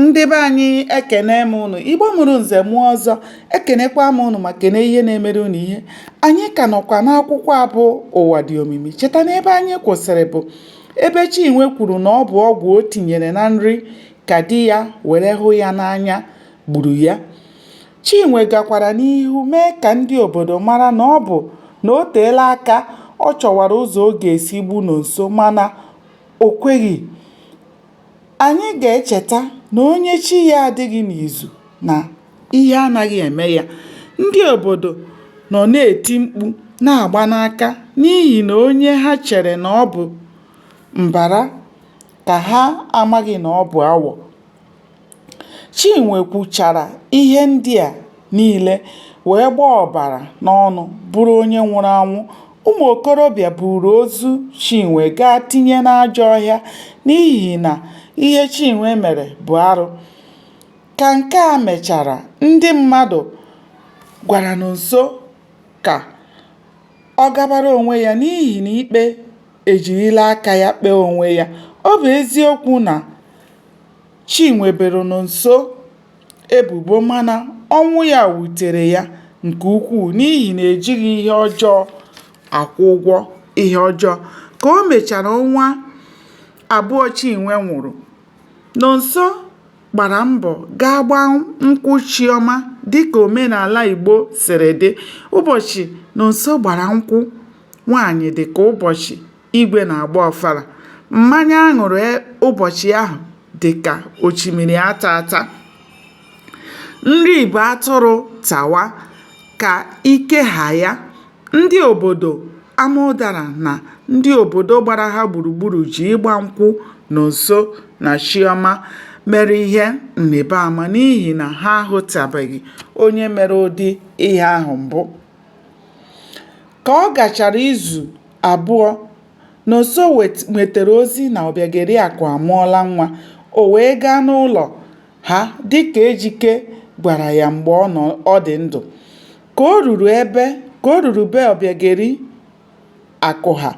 ndị be anyị ekene m ụnụ igbo mụrụ nze mụọ ọzọ ekenekwa m ụnụ ma kene ihe na-emere ụnụ ihe anyị ka nọkwa n'akwụkwọ abụ ụwa dị omimi cheta na ebe anyị kwụsịrị bụ ebe chinwe kwuru na ọ bụ ọgwụ o tinyere na nri ka di ya were hụ ya n'anya gburu ya chinwe gakwara n'ihu mee ka ndị obodo mara na ọ bụ na o teela aka ọ chọwara ụzọ ọ ga-esi gbu nonso mana o kweghị Anyị ga-echeta na onye chi ya adịghị n'izu na ihe anaghị eme ya. Ndị obodo nọ na-eti mkpu na-agba n'aka n'ihi na onye ha chere na ọ bụ mbara ka ha amaghị na ọ bụ awọ. Chinwe kwuchara ihe ndị a niile wee gbaa ọbara n'ọnụ bụrụ onye nwụrụ anwụ. Ụmụ okorobịa buuru ozu Chinwe gaa tinye n'ajọ ọhịa n'ihi na ihe Chinwe mere bụ arụ. Ka nke a mechara, ndị mmadụ gwara Nonso ka ọ gabara onwe ya n'ihi na ikpe ejirila aka ya kpee onwe ya. Ọ bụ eziokwu na Chinwe boro Nonso ebubo mana ọnwụ ya wutere ya nke ukwuu n'ihi na ejighị ihe ọjọọ akwụ ụgwọ ihe ọjọọ. Ka o mechara ọnwa abụọ Chinwe nwụrụ, Nonso gbara mbọ gaa gbaa nkwụ Chioma dịka omenala Igbo siri dị. Ụbọchị Nonso gbara nkwụ nwaanyị dị ka ụbọchị igwe na-agba ọfala mmanya a ṅụrụ ụbọchị ahụ dị ka ochimiri ata ata nri bụ atụrụ tawa ka ike ha ya ndị obodo amaụdara na ndị obodo gbara ha gburugburu ji ịgba nkwụ nonso na chioma mere ihe nrịba ama n'ihi na ha ahụtabeghị onye mere ụdị ihe ahụ mbụ ka ọ gachara izu Abụọ, Nonso nwetara ozi na Ọbịageriakụ amụọla nwa, o wee gaa n'ụlọ ha dịka Ejike gwara ya mgbe ọ dị ndụ. Ka o ruru be Ọbịageriakụ ha,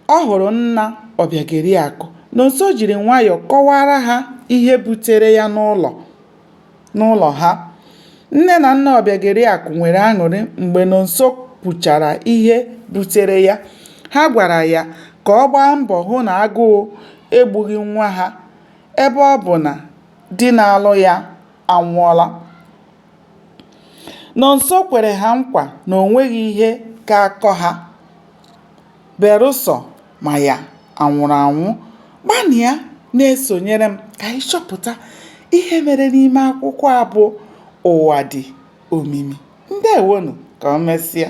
ọ hụrụ nna Ọbịageriakụ. Nonso jiri nwayọ kọwaara ha ihe butere ya n'ụlọ. n'ụlọ ha. Nne na nna Ọbịageriakụ nwere aṅụrị mgbe Nonso kwuchara ihe butere ya. Ha gwara ya ka ọ gbaa mbọ hụ na agụụ egbughị nwa ha ebe ọ bụ na di na-alụ ya anwụọla. Nonso kwere ha nkwa na o nweghị ihe ga-akọ ha. Berụsọ ma ya anwụrụ anwụ, gbanịa na-esonyere m ka anyị chọpụta ihe mere n'ime akwụkwọ a bụ Ụwa Dị Omimi. Ndeewonụ, ka o mesịa.